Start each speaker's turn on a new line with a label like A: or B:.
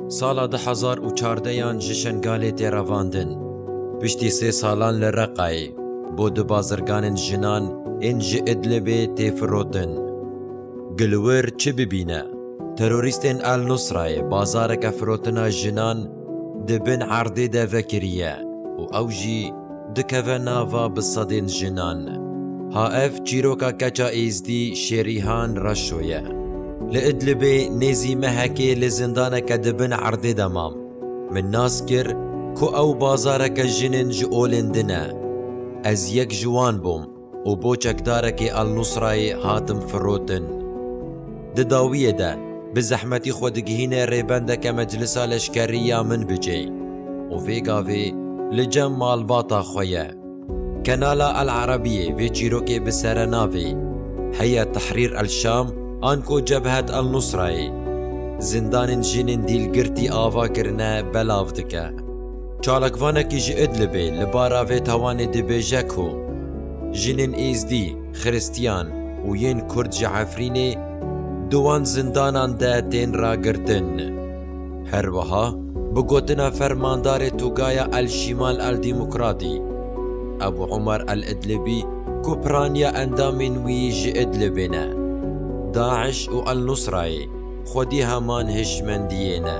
A: Sala du hezar û çardeyan ji Şengalê tê revandin. Piştî sê salan li Reqayê bo du bazirganên jinan ên ji Idlibê tê firotin. Gi li wir çi bibîne, terorîstên El Nusrayê bazareke firotina jinan di bin erdê de vekiriye û ew jî, dikeve nava bi sedên jinan. Ha ev çîroka keça Êzdî Şêrîhan Reşo ye. Li Idlibê nêzî mehekê li zindaneke di bin erdê de mam. Min nas kir ku ew bazareke jinên ji olên din e. Ez yek ji wan bûm. û bo çekdarekî Al-Nusrayê hatim firotin. Di dawiyê de bi zehmetî xwe digihîne rêbendeke meclisa leşkerî ya Minbicê û vê gavê li cem malbata xwe ye. Kanala Al-Arabiyê vê çîrokê bi serenavê Heyet Tehrîr El-Şam anko Cebhet El-Nusrayê zindanên jinên dîlgirtî ava kirine belav dike. Çalakvanekî ji Idlibê li bara vê tawanê dibêje ku jinên Êzdî, Xiristiyan û yên Kurd ji Efrînê di wan zindanan de tên ragirtin. Her wiha bi gotina fermandarê Tugaya El-Şîmal El-Dîmokratî, Ebû Omer El-Idlibî ku piraniya endamên wî ji Idlibê ne, DAIŞ û El-Nusrayê, Xwedî heman hişmendiyê ne.